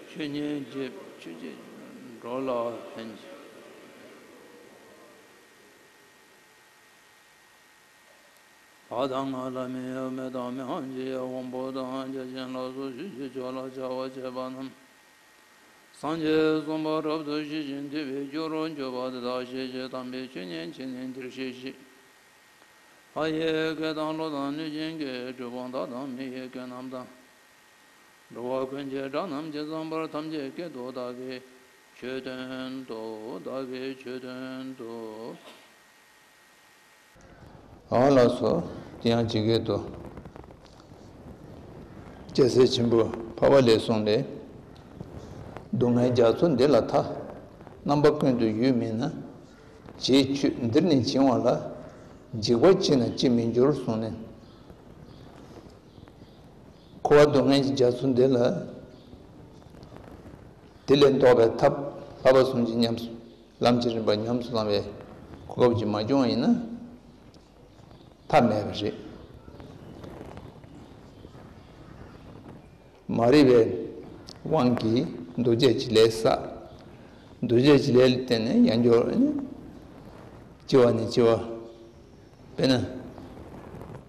ཆོས་ཉན་རྗེས་ཆོས་རྗེས་འགྲོ་ལ་ཕན། བ་དང་ང་ལ་མི་གཡོ་མེ་དང་མི་ཧམ་ཅི་ཡང་དབང་པོ་དང་རྒྱལ་ཆེན་ལ་སོགས་ཞི་བྱེད་མཆོག་ལ་བྱ་བ་བྱེད་པ་རྣམས། སངས་རྒྱས་གསུམ་པ་རབ་ཏུ་ཞི་ཞིང་དུལ་བའི་རྒྱུ་རུ་འགྱུར་བ་འདི་དག་ཤེས་བྱའི་དམ་པའི་ཆོས་ཉན་བྱེད་ནི་འདིར་བཤད་ཤེས། ལྷ་ཡི་སྐད་དང་བློ་དང་གནོད་སྦྱིན་གྱི་སྒྲུབ་དབང་དག་དང་མི་ཡི་སྐད་རྣམས་དང། འགྲོ་བ་ཀུན་གྱི་དགྲ་རྣམས་ཀྱི་རྩང་བར་ཐམས་ཅད་བསྐྱེད་དོ་བདག་གིས་ཆོས་སྟོན་ཏོ། བདག་གིས་ཆོས་སྟོན་ཏོ། གང་ལགས་སོ། དེ་ཡང་ཇི་སྐད་དུ། སྐྱེ་སའི་ཆེན་པོ་འཕར་བ་ལས་གསུངས་ཏེ། སྡུག་བསྔལ་རྒྱ་མཚོ་འདི་ལ་མཐའ། རྣམ་པ་ཀུན་ཏུ་ཡོད་མིན་ན། རྗེས་འཁྱུད་འདིར་ནི་བྱིང་བ་ལ། འཇིགས་པ་ཅི་ན་ཅིས་མི་འགྱུར་གསུངས་ནས། འཁོར་བ་སྡུག་བསྔལ་གྱི་རྒྱ་མཚོ་འདི་ལ། དེ་ལས་བཟློག་པའི་ཐབས་ལྷག་པ་གསུངས་ཀྱིས་ཉམས་སུ་ལམ་གྱི་རིམ་པ་ཉམས་སུ་བླང་བའི་གོ་སྐབས་ཀྱིས་མ་བསྐྱོང་བ་ཡིན་ན་ཐབས་མེད་པ་རེད། མ་རིག་པའི་དབང་གིས་འདུ་བྱེད་ཀྱི་ལས་བསགས། འདུ་བྱེད་ཀྱི་ལས་ལ་བརྟེན་ནས་ཡང་སྦྱོར་བ་ནི། སྐྱེ་བ་ནི་སྐྱེ་བ། དཔེར་ན།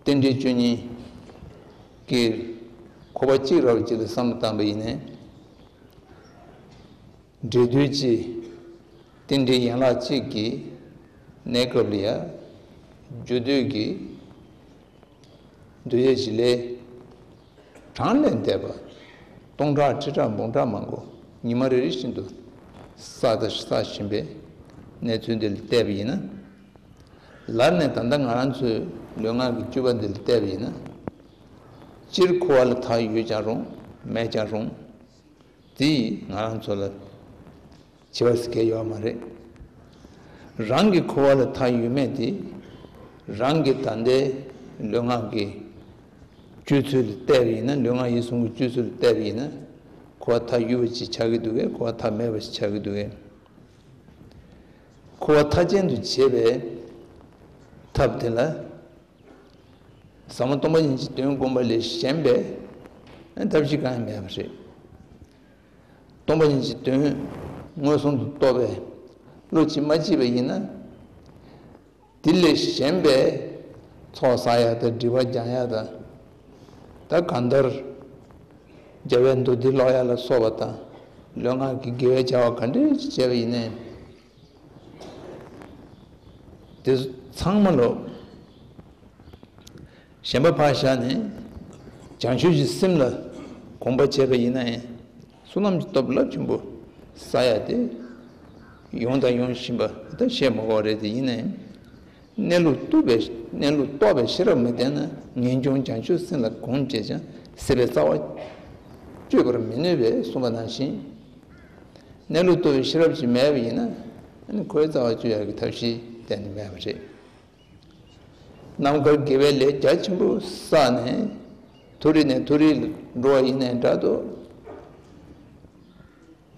རྟེན་འབྲེལ་བཅུ་གཉིས་ཀྱི་འཁོར་བ་གཅིག་རབ་གཅིག་ལ་བསམ་བློ་བཏང་བས་ཡིན། འབྲེལ་སྡུད་བཅས། རྟེན་འབྲེལ་ཡན་ལག་གཅིག་གི་གནས་སྐབས་ལ། རྒྱུ་སྡུད་ཀྱི་འདུ་ཤེས་བཞི་ལས། གྲངས་ལས་འདས་པ་སྟོང་ཕྲག་ཁྲི་ཕྲག་འབུམ་ཕྲག་མང་པོ་ཉི་མ་རེ་རེ་བཞིན་དུ་བསགས་བཞིན་པའི་གནས་ཚུལ་འདི་ལ་བལྟས་པ་ཡིན་ན། ལར་ནས་ད་ལྟ་ང་རང་ཚོའི་ལུས་ངག་གི་སྤྱོད་པ་འདི་ལ་བལྟས་པ་ཡིན་ན། སྤྱིར་ཁུ་བ་ལ་དག་ཡོད་ཀྱང་རུང་མེད་ཀྱང་རུང། དེ་ཡིས་ང་རང་ཚོ་ལ་བྱིས་པ་སྐྱེ་ཡོད་མ་རེད། རང་གི་ཁུ་བ་ལ་ཐག་ཡོད་མེད་དེ་རང་གི་ད་ལྟའི་ལུས་ངག་གི་སྤྱོད་ཚུལ་ལ་བལྟས་པ་ཡིན་ན་ལུས་ངག་ཡིད་གསུམ་གྱི་སྤྱོད་ཚུལ་ལ་བལྟས་པ་ཡིན་ན་ཁུ་བ་ཐག་ཡོད་པ་ཞིག་ཆགས་ཀྱི་འདུག་གས་ཁུ་བ་ཐག་མེད་པ་ཞིག་ཆགས་ཀྱི་འདུག་གས། ཁུ་བ་ཐག་ཅན་དུ་བྱེད་པའི་ཐབས་དེ་ལ། ཟབ་མོ་སྟོང་པ་ཉིད་ཀྱི་དོན་བསྒོམ་པ་ལས་གཞན་པའི་ཐབས་ཤེས་གང་ཡང་མེད་པ་རེད། སྟོང་པ་ཉིད་ཀྱི་དོན་མངོན་སུམ་དུ་རྟོགས་པའི་བློ་ཇི་མ་སྐྱེས་པ་ཡིན་ན། དེ་ལས་གཞན་པའི་ཚོགས་བསག་ཡག་དང་འབྲི་བ་སྦྱང་ཡག་དང། ད་གང་ལྟར་རྒྱལ་བའི་མདོ་སྡེ་ཀློག་ཡག་ལ་སོགས་པ་དང་ལུས་ངག་གི་དགེ་བའི་བྱ་བ་ག་འདྲའི་བྱས་པ་ཡིན་ནའི། དེ་ཚང་མ་ལོག། གཞན་པ་བག་ཞགས་ནི། བྱང་ཆུབ་ཀྱི་སེམས་ལ་གོམས་པར་བྱས་པ་ཡིན་ན་ཡང་བསོད་ནམས་ཀྱི་སྟོབས་རླབས་ཆེན་པོ་ས་ཡ་སྟེ། ཡོང་དང་ཡོང་བཞིན་པ་དང་བྱེད་མ་བ་རེ་དེ་ཡིན་ན་ཡང། གནས་ལུགས་རྟོགས་པའི་གནས་ལུགས་རྟོགས་པའི་ཤེས་རབ་མ་ལྡན་ན་ངེས་འབྱུང་བྱང་ཆུབ་སེམས་ལ་གོམས་བྱས་ཀྱང་སྲིད་པའི་རྩ་བ་གཅོད་པར་མི་ནུས་པས་གསུངས་པ་ནང་བཞིན། གནས་ལུགས་ལྟོས་ཤེས་རབ་ཀྱིས་མེད་པ་ཡིན་ན། ཁོའི་རྩ་བ་གཅོད་ཡར་གྱི་ཐབས་ཤེས་གཏན་ནས་མེད་པ་རེད། ནམ་མཁར་དགེ་བའི་ལས་རྒྱ་ཆེན་པོ་བསགས་ནས་མཐོ་རིས་ནས་མཐོ་རིས་ལ་འགྲོ་བ་ཡིན་ནའི་འདྲ་དུ།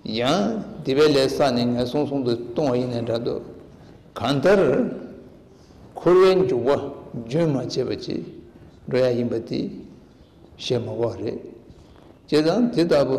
ཡང་སྡིག་པའི་ལས་བསགས་ནས་ངན་སོང་སོང་དུ་ལྟུང་བ་ཡིན་ནའི་འདྲ་དུ། གང་ལྟར་འཁོར་བའི་འཇུག་པ་རྒྱུན་མ་ཆད་པ་ཅིག་འགྲོ་ཡ་ཡིན་པ་དེ་ཤེས་མ་དགོས་པ་རེད། བྱས་ཙང་དེ་ལྟ་བུ།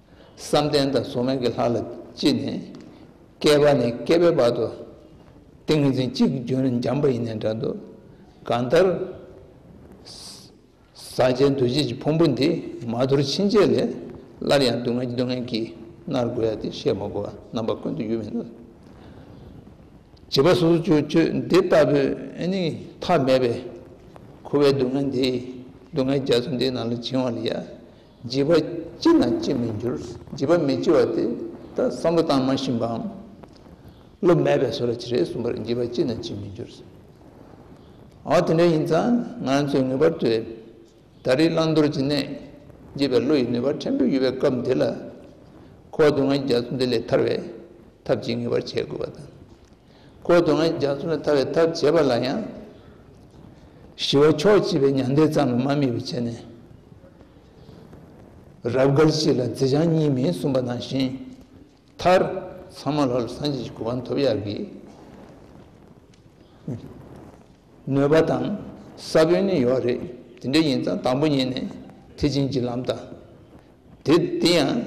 བསམ་གཏན་དང་གཟུགས་སྣང་གི་ལྷ་ལ་ཅི་ནས་བསྐལ་པ་ནས་བསྐལ་པའི་བར་དུ་ཏིང་ངེ་འཛིན་གཅིག་གྱུར་འཇམ་པ་ཡེ་ནས་འདྲ་འདུག་གང་ལྟར། ཟག་བཅས་འདུ་བྱེད་ཀྱི་ཕུང་པོ་འདི་མ་དོར་ཕྱིན་ཆད་ལས་སླར་ཡང་སྡུག་བསྔལ་གྱི་སྡུག་བསྔལ་གྱིས་མནར་དགོས་ཡ་དེ་བཤད་མ་དགོས་པ་རྣམ་པ་ཀུན་ཏུ་ཡོད་མི་ནུས། བྱིས་པ་སོ་སོ་ཆོས་སྤྱོད་འདི་ལྟ་བུས་ནི་ཐ་མལ་པའི་ཁུ་བའི་སྡུག་བསྔལ་འདི་སྡུག་བསྔལ་རྒྱ་མཚོ་འདི་རྣམས་ལ་བྱིང་བ་ལ་ཡ། བརྗེད་པ་ཅི་ན་ཅི་མི་འགྱུར་བརྗེད་པ་མི་སྐྱེ་བ་དེ་ལྟར་བསམ་བློ་བཏང་མ་ཤེས་པའམ་བློ་མེད་པས་སོ་ར་ཅི་རེད་གསུངས་པར་བརྗེད་པ་ཅི་ན་ཅི་མི་འགྱུར། འོ་དེ་འདྲ་ཡིན་ཙང་ང་ཚོས་ངེས་པར་དུ་ད་རེས་བླང་དོར་གྱི་གནས་བརྗེད་པའི་བློ་ཡི་ནུས་པ་ཕྲན་བུ་ཡོད་པའི་སྐབས་འདི་ལ་ཁོ་བོ་དུང་ངེ་རྒྱ་མཚོ་འདི་ལས་ཐར་བའི་ཐབས་ཅིག་ངེས་པར་བྱེད་དགོས་པ་དང། བསྐོར་དུ་ང་ཡི་རྒྱ་མཚོ་ལ་ལྟ་བའི་ཐབས་བྱེད་པ་ལ་ཡང། ཞི་བ་མཆོག་སྐྱེས་པའི་མྱང་འདས་ཙམ་ལས་མ་རྨིས་པར་བྱས་ནས། རབ་དགར་གཅིག་ལ་རྫས་བྱང་གཉིས་མེད་གསུངས་པ་དང་བཞིན། མཐར། ཚང་མ་ལྷོད་ལ་སངས་རྒྱས་ཀྱི་གོ་འཕང་ཐོབ་ཡག་གི། གནོད་པ་དང་ས་བོན་ནི་ཡོད་རེད་དེ་འདྲ་ཡིན་ཙང་དང་པོ་ཉིད་ནས་ཐེག་ཆེན་གྱི་ལམ་དང། དེ་དེ་ཡང་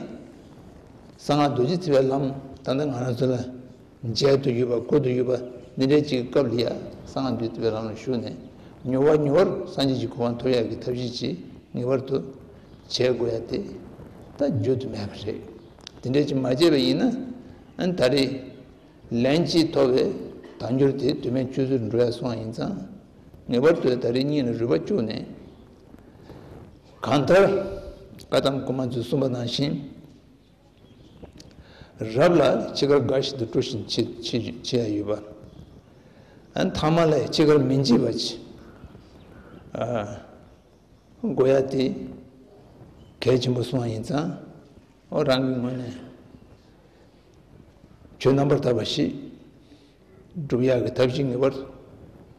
གསང་སྔགས་རྡོ་རྗེ་བརྩི་བའི་ལམ་དང་ཐང་ང་རང་ཚོ་ལ་མཇལ་དུ་ཡོད་པ་བཀོད་དུ་ཡོད་པ་ནི་རེད་གཅིག་སྐབས་ལྷི་ཡ་གསང་སྔགས་རྡོ་རྗེ་བརྩི་བའི་ལམ་ལ་ཞུགས་ནས་མྱུར་བ་མྱུར་བར་སངས་རྒྱས་ཀྱི་གོ་འཕང་ཐོབ་ཡག་གི་ཐབས་ཤེས་ཅི་ངེས་པར་དུ་བྱེད་དགོས་ཡ་དེ་ད་བརྗོད་དུ་མེད་པ་རེད་དེ་འདྲས་ཀྱི་མ་བྱས་པ་ཡིན་ན་ད་རེས་ལན་གཅིག་ཐོབ་བས་དང་འགྱུར་དེ་དུས་མེད་ཆུད་ཟོས་འགྲོ་ཡ་སོང་ཡིན་ཙང་ངེས་པར་དུ་ད་རེས་སྙིང་ལ་རུས་པ་བཅུག་ནས་གང་ལྟར་བཀའ་གདམས་སྐུ་མ་མཛོད་གསུམ་པ་ནང་བཞིན་རབ་ལ་ཅི་དགར་འགའ་ཞིག་ཏུ་སྤྲོ་བཞིན་མཆིས། བྱས་ཡོད་པ། མཐའ་མ་ལས་ཅི་དགར་མི་མཆིས་པ་མཆིས། དགོས་ཡ་དེ་གལ་ཆེན་པོ་སོང་བ་ཡིན་ཙང་རང་གི་ངོས་ནས་ཆོས་རྣམ་པར་དག་པ་ཞིག་བསྒྲུབ་ཡ་གི་ཐབས་ཤིག་ངེས་པར་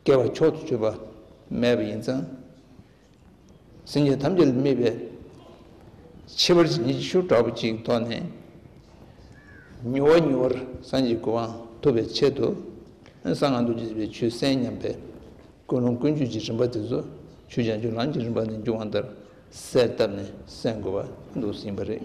སྐྱེ་བ་མཆོག་ཏུ་གྱུར་པ་མེད་པ་ཡིན་ཙང། སེམས་ཅན་ཐམས་ཅད་ལ་དམིགས་པའི་ཕྱི་བར་གྱི་ཉི་ཤུ་དྲག་པོ་གཅིག་ཐོགས་ནས། མྱུར་བ་མྱུར་བར་སངས་རྒྱས་ཀྱི་དབང་ཐོབ་པའི་ཆེད་དུ། གསང་སྔགས་རྡོ་རྗེ་བའི་ཆུའི་གསེང་མཉམ་པའི་ཀུན་སློང་ཀུན་སྤྱོད་ཀྱི་རིམ་པ་དེ་ཚོ་ཆུ་ལྗང་ཆུ་ལམ་གྱི་རིམ་པ་ནས་འབྱུང་བ་ལྟར་གསལ་བཏབ་ནས་གསན་དགོས་པ་འདུག་ཟིན་པ་རེད།